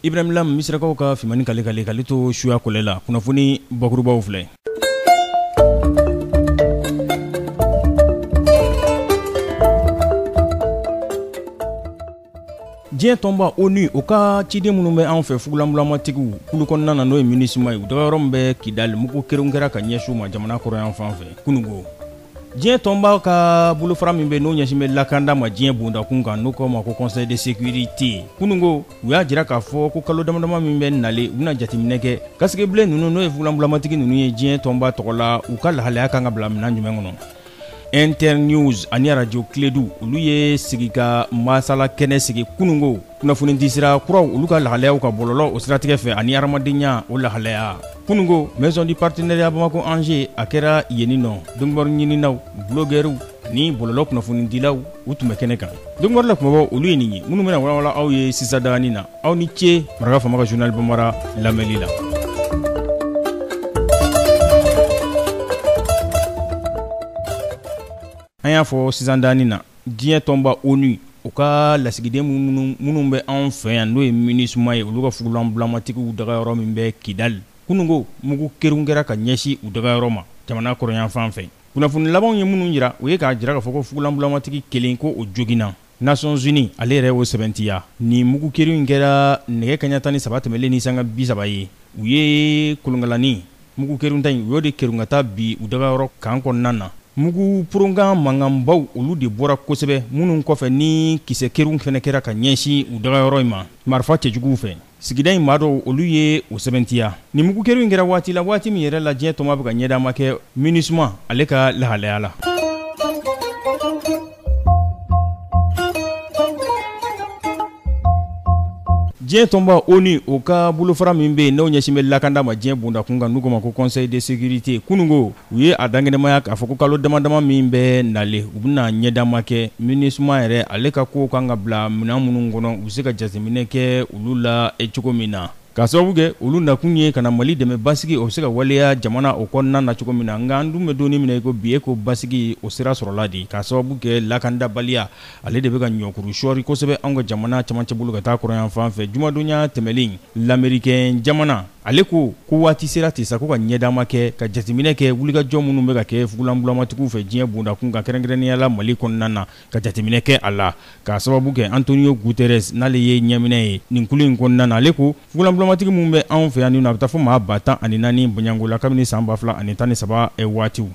Ibrahim Lam misirakaw ka Fimani kale kale kale to suya kɔlɛ la kunnafoni bakurunbaw filɛ diɲɛ tɔnba ONU o ka ciden minnu bɛ anw fɛ fugulanbulamatigiw kulu kɔnɔna na n'o ye Minusma ye u dagayɔrɔ min bɛ Kidali mugu kerun kɛra ka ɲɛsin u ma jamana kɔrɔnyanfan fɛ kunungo diɲɛ tɔnba ka bolofara min bɛ n'o ɲɛsin bɛ lakanda ma diɲɛ bondakun kan n'o k'o ma ko conseil de sécurité kunungo u y'a jira k'a fɔ ko kalo damadama min bɛ nalen u bɛna jateminɛ kɛ casques bleus ninnu n'o ye fugulanbulamatigi ninnu ye diɲɛ tɔnba tɔgɔ la u ka lahalaya kan ka bila minɛn jumɛn kɔnɔ internews ani arajo kledu olu ye sigi ka masala kɛnɛ sigi kunungo kunnafonidisira kuraw olu ka lahalayaw ka bɔlɔlɔ o siratigɛ fɛ ani hadamadenya o lahalaya kunungo maison du partenariat bamako angers a kɛra yeni nɔ donkibaru ɲininaw bulogɛriw ni bɔlɔlɔ kunnafonidilaw u tun bɛ kɛnɛ kan donkibaru la kumabɔ olu ye nin ye minnu bɛna walawala aw ye sisan dani na aw ni ce maraka faama ka journal bambara lamɛnli la an y'a fɔ sisan dani na diɲɛ tɔnba onu o ka lasigiden minnu bɛ anw fɛ yan n'o ye minusma ye olu ka fugulanbulamatigiw dagayɔrɔ min bɛ kidali kunungo mugu kerun kɛra ka ɲɛsin u dagayɔrɔ ma jamana kɔrɔnyanfan fɛ Kunnafoni labanw ye minnu yira u ye k'a jira k'a fɔ ko fugulanbulamatigi kelen ko o joginna Nations Unies ale yɛrɛ y'o sɛbɛntiya nin mugu kerun in kɛra nɛgɛ kaɲa tan ni saba tɛmɛlen ni sanga bi saba ye u ye kolonkalani mugu kerunta in u y'o de kerun ka taa bin u dagayɔrɔ kan kɔnɔna na mugu poronkan mankanbaw olu de bɔra kosɛbɛ minnu kɔfɛ ni kisɛ kerun fana kɛra ka ɲɛsin u dagayɔrɔ in ma marifa cɛjuguw fɛ sigida in maa dɔw olu ye o sɛbɛntiya nin mugu kerun in kɛra waati la waati min yɛrɛ la diɲɛ tɔnba bɛ ka ɲɛdama kɛ minusma ale ka lahalaya la diɲɛ tɔnba onu o ka bolofara min bɛ yen n'o ɲɛsin bɛ lakanda ma diɲɛ bondakun kan n'u k'o ma ko conseil de sécurité kunungo u ye a dankɛnɛmaya k'a fɔ ko kalo damadama min bɛ nalen u bɛna ɲɛdama kɛ minusma yɛrɛ ale ka kow kan ka bila minɛn minnu kɔnɔ u bɛ se ka jateminɛ kɛ olu la cogo min na k'a sababu kɛ olu nakun ye ka na mali dɛmɛ basigi o bɛ se ka waleya jamana o kɔnɔna na cogo min na nka an dun bɛ don min na i ko bi e ko basigi o sira sɔrɔla di k'a sababu kɛ lakandabaliya ale de bɛ ka ɲɔkuru sɔɔri kosɛbɛ anw ka jamana camancɛ bolo ka taa kɔrɔnyanfan fɛ jumadonya tɛmɛlen lamerikɛn jamana ale ko ko waati sera ten sa ko ka ɲɛdama kɛ ka jateminɛ kɛ wulikajɔ minnu bɛ ka kɛ fugulanbulamatigiw fɛ diɲɛ bondakun kan kɛrɛnkɛrɛnnenya la mali kɔnɔna na ka jateminɛ kɛ a la k'a sababu kɛ antonio guterres n'ale ye ɲɛminɛ ye nin kulu in kɔnɔna na ale ko fugulanbulamatigi minnu bɛ anw fɛ yan nin na a bɛ taa fo maa ba tan ani naani bɔɲɔgɔnko la kabini san ba fila ani tan ni saba waatiw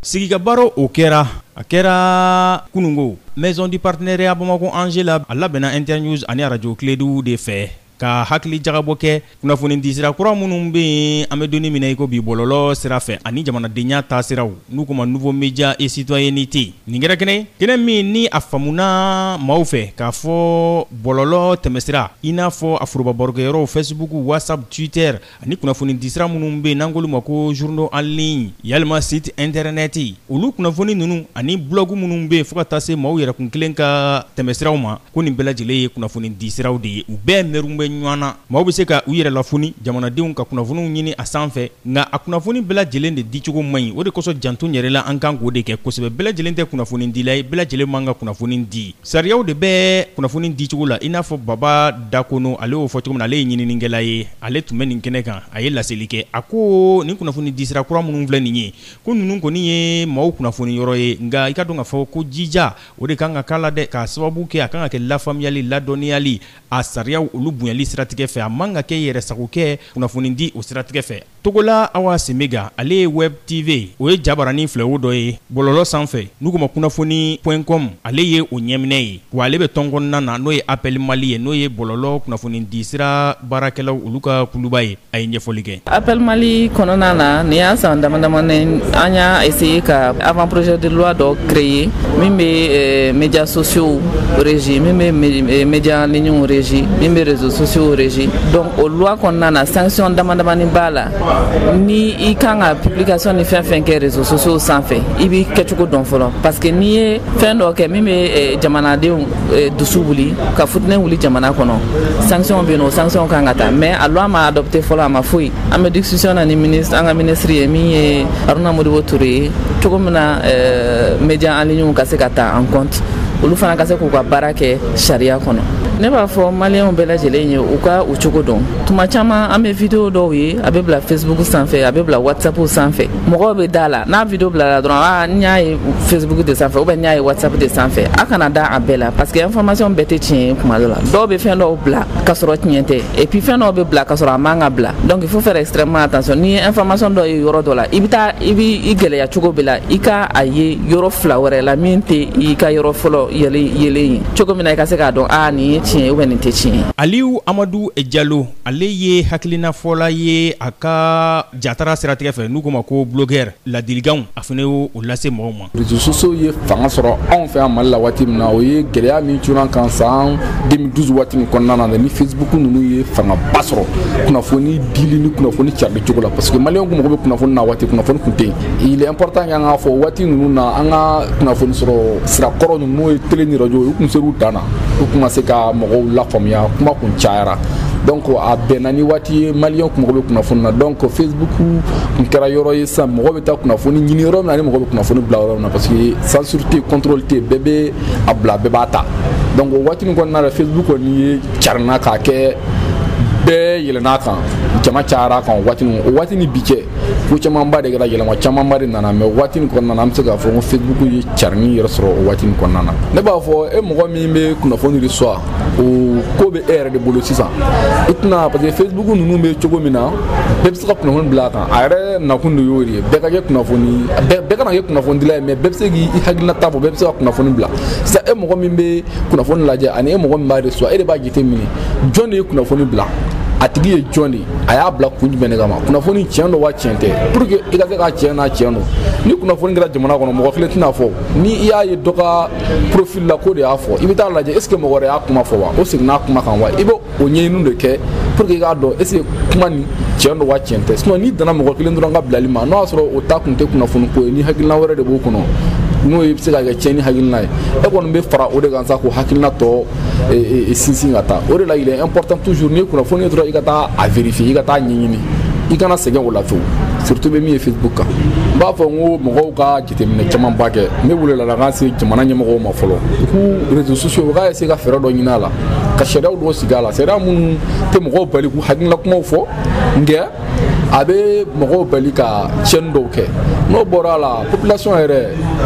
sigika baro o kɛra a kɛra kunungo maison du partenariat bamakɔ angers la a labɛnna internews ani arajo kiledu de fɛ ka hakili jagabɔ kɛ kunnafoni disira kura minnu bɛ yen an bɛ donni min na i ko bi bɔlɔlɔ sira fɛ ani jamanadenya taasiraw n'u k'o ma nouveau media et citoyenneté Nin kɛra kɛnɛ ye, kɛnɛ min ni a faamuna maaw fɛ k'a fɔ bɔlɔlɔ tɛmɛsira i n'a fɔ a foroba barokɛyɔrɔw Facebook, WhatsApp, Twitter ani kunnafonidisira minnu bɛ yen n'an k'olu ma ko journaux en ligne yalima sites internet olu kunnafoni ninnu ani blog minnu bɛ yen fo ka taa se maaw yɛrɛkun kelen ka tɛmɛsiraw ma ko nin bɛɛ lajɛlen ye kunnafoni di siraw de ye u bɛɛ mɛrun bɛ ɲɔgɔn na maaw bɛ se ka u yɛrɛ lafoni jamanadenw ka kunnafoniw ɲini a sanfɛ nka a kunnafoni bɛɛ lajɛlen de dicogo man ɲi o de kosɔn janto yɛrɛ la an kan k'o de kɛ kosɛbɛ bɛɛ lajɛlen tɛ kunnafoni dila ye bɛɛ lajɛlen man ka kunnafoni di sariyaw de bɛ kunnafoni dicogo la i n'a fɔ baba dakono ale y'o fɔ cogo min na ale ye ɲininikɛla ye ale tun bɛ nin kɛnɛ kan a ye laseli kɛ a ko nin kunnafoni disira kura minnu filɛ nin ye ko ninnu kɔni ye maaw kunnafoni yɔrɔ ye nka i k'a dɔn k'a fɔ ko jija o de kan ka k'a la dɛ k'a sababu kɛ a kan ka kɛ lafaamuyali ladɔnniyali a sariyaw olu bonyali siratigɛ fɛ a man ka kɛ yɛrɛsagokɛ kunnafonidi o siratigɛ fɛ togola awa semega ale ye web tv o ye jabaranin filɛwo dɔ ye bɔlɔlɔ sanfɛ n'u k'o ma kunnafoni point com ale ye o ɲɛminɛ ye wa ale bɛ tɔn kɔnɔna na n'o ye appel mali ye n'o ye bɔlɔlɔ kunnafonidisira baarakɛlaw olu ka kuluba ye a ye ɲɛfɔli kɛ appel mali kɔnɔna na nin y'a san dama damanin an y'a essayer ka avant projet de loi dɔ créer min bɛ eh, médias sociaux régi min bɛ eh, médias en ligne régi min bɛ réseaux sociaux régi donc o loi kɔnɔna na sanction dama damani b'a la ni i kan ka publication ni fɛn fɛn kɛ réseaux sociaux sanfɛ i b'i kɛcogo dɔn fɔlɔ parce que n'i ye fɛn dɔ kɛ min bɛ eh, jamanadenw Eh, dusu wuli ka futinɛ wuli jamana kɔnɔ sanction bɛ yen o sanction kan ka ta mais a loi ma adopté fɔlɔ a ma foyi an bɛ discussion na ni ministre an ka ministre ye min ye haruna modibo ture ye cogo min na eh, média en ligne ka se ka ta en compte olu fana ka se k'u ka baara kɛ sariya kɔnɔ ne b'a fɔ maliyɛnw bɛɛ lajɛlen ye u ka u cogo dɔn tuma caman an bɛ video dɔw ye a bɛ bila facebook sanfɛ a bɛ bila whatsapp sanfɛ mɔgɔw bɛ da la n'a video bilala dɔrɔn a ah, n y'a ye facebook de sanfɛ ou bien n y'a ye whatsapp de sanfɛ a kana da a bɛɛ la parce que information bɛɛ tɛ tiɲɛ ye kuma dɔ la dɔw bɛ fɛn dɔw bila ka sɔrɔ tiɲɛ tɛ et puis fɛn dɔw bɛ bila ka sɔrɔ a man ka bila donc il faut faire extrêmement attention n'i ye information dɔ ye yɔrɔ dɔ la i bɛ taa i bɛ i gɛlɛya cogo bɛɛ la i ka a ye yɔrɔ fila wɛrɛ la min tɛ i ka yɔrɔ fɔlɔ yelen ye cogo min na i ka se k'a dɔn a ah, nin ye tiɲɛ ye ou bien nin tɛ tiɲɛ ye aliyu amadu jalo ale ye hakilinafɔla ye a ka jatara siratigɛ fɛ n'u ko ma ko blogueur ladilikanw a fana y'o lase mɔgɔw ma réseaux sociaux ye fanga sɔrɔ anw fɛ yan mali la waati min na o ye gɛlɛya min cunn'an kan san 2012 waati min kɔnɔna na ni facebook ninnu ye fangaba sɔrɔ kunnafoni dili ni kunnafoni carili cogo la parce que maliyɛn kun mago bɛ kunnafoni na waati kunnafoni kun tɛ yen il est important an k'a fɔ waati ninnu na an ka kunnafoni sɔrɔ sira kɔrɔ ninnu n'o ye télé ni radio u kun ser'u dan na u kun ma se ka mɔgɔw lafaamuya kuma kun cayara donc a bɛnna ni waati ye maliyɛn kun mago bɛ kunnafoni na donc facebook kun kɛra yɔrɔ ye sisan mɔgɔ bɛ taa kunnafoni ɲini yɔrɔ min na ani mɔgɔ bɛ kunnafoni bila yɔrɔ min na parce que censure tɛ contrôle tɛ bɛɛ bɛ a bila bɛɛ b'a ta donc o waati nin kɔnɔna la facebook kɔni ye carinna k'a kɛ bɛɛ yɛlɛn'a kan jama cayara a kan o waati nin o waati ni bi cɛ ko camanba de kɛra yɛlɛma camanba de nana mais waati nin kɔnɔna na an bɛ se k'a fɔ ko facebook ye carinni yɛrɛ sɔrɔ o waati nin kɔnɔna na ne b'a fɔ e mɔgɔ min bɛ kunnafoni reçoit o ko bɛ e yɛrɛ de bolo sisan i tɛna parce que facebook ninnu bɛ cogo min na bɛɛ bɛ se ka kunnafoni bila a kan a yɛrɛ nakun de y'o de ye bɛɛ ka kɛ kunnafoni bɛɛ kana kɛ kunnafonidila ye mais bɛɛ bɛ se k'i hakilinata fɔ bɛɛ bɛ se ka kunnafoni bila sisan e mɔgɔ min bɛ kunnafoni lajɛ ani e mɔgɔ min b'a reçoit e de b'a jateminɛ jɔn de ye kunnafoni bila a tigi ye jɔn de a y'a bila kun jumɛn de kama kunnafoni tiɲɛ don wa tiɲɛ tɛ pour que i ka se ka tiɲɛ n'a tiɲɛ don ni kunnafoni kɛra jamana kɔnɔ mɔgɔ kelen tɛn'a fɔ ni i y'a ye dɔ ka profil la k'o de y'a fɔ i bɛ taa lajɛ est ce que mɔgɔ wɛrɛ y'a kuma fɔ wa o seginna a kuma kan wa i bɛ o ɲɛɲiniw de kɛ pour que i k'a dɔn est ce que kuma nin tiɲɛ don wa tiɲɛ tɛ sinon n'i danna mɔgɔ kelen dɔrɔn ka bilali ma n'o y'a sɔrɔ o ta kun tɛ kunnafoni ko ye ni hakilina wɛrɛ de b'o kɔnɔ n'o ye bɛ se ka kɛ tiɲɛni hakilina ye e kɔni bɛ fara o de kan sa k'o hakilina tɔ sinsin ka taa o de la il est important toujours n'i ye kunnafoni ye dɔrɔn i ka taa a vérifier i ka taa ɲɛɲini i kana sɛgɛn o la fiyewu surtout bɛ min ye facebook kan n b'a fɔ n ko mɔgɔw ka jateminɛ camanba kɛ ne wele bila ka ɲɛsin jamana ɲɛmɔgɔw ma fɔlɔ k'u réseaux sociaux u k'a essayer ka fɛɛrɛ dɔ ɲini a la ka sariyaw dɔw sigi a la sariya minnu tɛ mɔgɔw bali k'u hakilina kumaw fɔ nka a bɛ mɔgɔw bali ka tiɲɛni dɔw kɛ n'o bɔra a la population yɛrɛ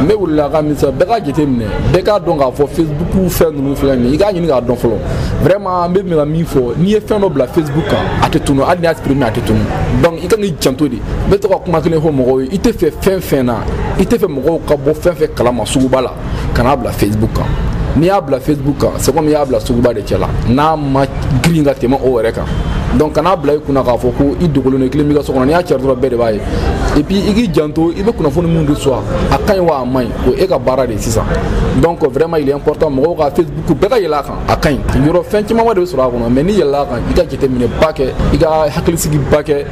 ne wulila ka min bɛɛ ka jateminɛ bɛɛ k'a dɔn k'a fɔ facebook fɛn ninnu filɛ nin ye i k'a ɲini k'a dɔn fɔlɔ vraiment an bɛ fɛ ka min fɔ n'i ye fɛn dɔ bila facebook kan a tɛ tunu hali n'i y'a supprimer a tɛ tunu donc i kan k'i janto de n bɛ to ka kuma kelen fɔ mɔgɔw ye i tɛ fɛ fɛn fɛn na i tɛ fɛ mɔgɔw ka bɔ fɛn fɛn kalama suguba la kan'a bila facebook kan n'i y'a bila facebook kan c'est comme i y'a bila suguba de cɛ la n'a ma girin ka tɛmɛ o yɛrɛ kan donc kan'a bila i kunna k'a fɔ ko i dogolen don i kelen b'i ka so kɔnɔ n'i y'a cari dɔrɔn bɛɛ de b'a ye et puis i k'i janto i bɛ kunnafoni min reçoit a ka ɲi wa a man ɲi o e ka baara de ye sisan donc vraiment il est important mɔgɔw ka facebook bɛɛ ka yɛlɛn a kan a ka ɲi yɔrɔ fɛn camanba de bɛ sɔrɔ a kɔnɔ mais n'i yɛlɛla a kan i ka jateminɛba kɛ i ka hakilisigiba kɛ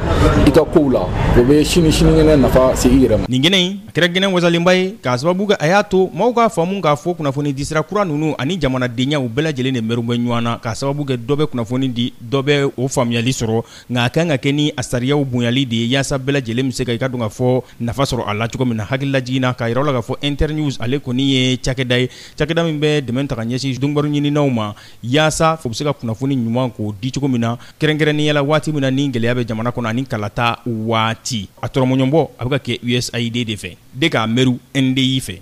i ka kow la o bɛ sini sinikɛnɛ nafa se i yɛrɛ ma nin kɛnɛ in a kɛra kɛnɛ wasalenba ye k'a sababu kɛ a y'a to maaw k'a faamu k'a fɔ kunnafoni disira kura ninnu ani jamanadenyaw bɛɛ lajɛlen de mɛru bɛ ɲɔgɔn na k'a sababu kɛ dɔ bɛ kunnafoni di dɔ bɛ o faamuyali sɔrɔ nka a kan ka kɛ ni a sariyaw bonyali de ye yaasa bɛɛ lajɛlen bɛ se ka i ka dɔn ka fɔ nafa sɔrɔ a la cogo min na hakililajigin na k'a yira la k'a fɔ Internews ale kɔni ye cakɛda ye Cakɛda min bɛ dɛmɛ ta ka ɲɛsin donkibaru ɲininaw ma yaasa u bɛ se ka kunnafoni ɲuman k'o di cogo min na kɛrɛnkɛrɛnnenya la waati min na ni gɛlɛya bɛ jamana kɔnɔ ani kalata waati a tɔrɔmɔɲɔbɔ a bɛ ka kɛ USAID de fɛ de k'a mɛru NDI fɛ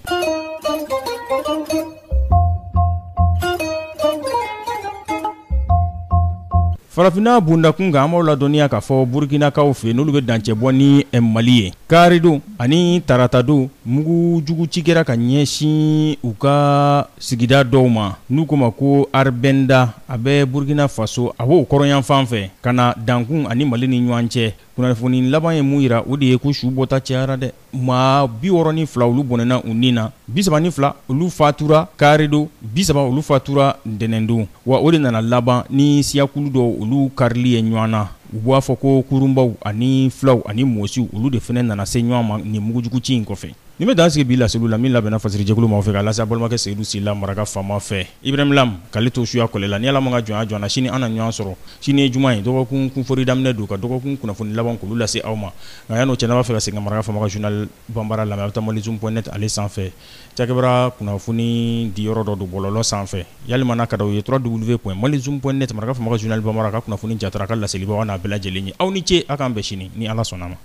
Farafinna bondakun kan an b'aw ladɔnniya k'a fɔ Burikinakaw fɛ n'olu bɛ dancɛ bɔ ni Mali ye karidon ani taratadon mugu jugu ci kɛra ka ɲɛsin u ka sigida dɔw ma n'u k'o ma ko Arbɛnda a bɛ Burikina Faso a b'o kɔrɔnyanfan fɛ ka na dankun ani Mali ni ɲɔgɔn cɛ kunnafoni laban ye mun yira o de ye ko su bɔta cayara dɛ. maa biwɔrɔ ni fila olu bɔnɛna u ni na bisaba ni fila olu fatura karidon bisaba olu fatura ntɛnɛndon wa o de nana laban ni siyakulu dɔw olu karili ye ɲɔgɔn na u b'a fɔ ko kurunbaw ani filaw ani mɔsiw olu de fɛnɛ nana se ɲɔgɔn ma nin mugujugu ci in kɔfɛ nin bɛ dan sigi bi laseliw la min labɛnna fasirijɛkulu ma fɛ k'a lase a balimakɛ seyidu sila maraka faama fɛ Ibrahim Lam k'ale to suya kɔlɛ la ni Ala m'a ka jɔnya jɔ an na sini an na ɲɔgɔn sɔrɔ sini ye juma ye dɔgɔkun kunfori daminɛ don ka dɔgɔkun kunnafoni laban k'olu lase aw ma nka yan'o cɛ n'a b'a fɛ ka segin ka Maraka faama ka journal banbara lamɛn a' bɛ taa malizoom point net ale sanfɛ cakɛbaara kunnafoni di yɔrɔ dɔ don bɔlɔlɔ sanfɛ yalima n'a ka d'aw ye www.malizoom point net Maraka faama ka journal banbara a ka kunnafoni jatara a ka laselibaw a n'a bɛɛ lajɛlen ye aw ni ce a k'an bɛn sini ni Ala sɔnn'a ma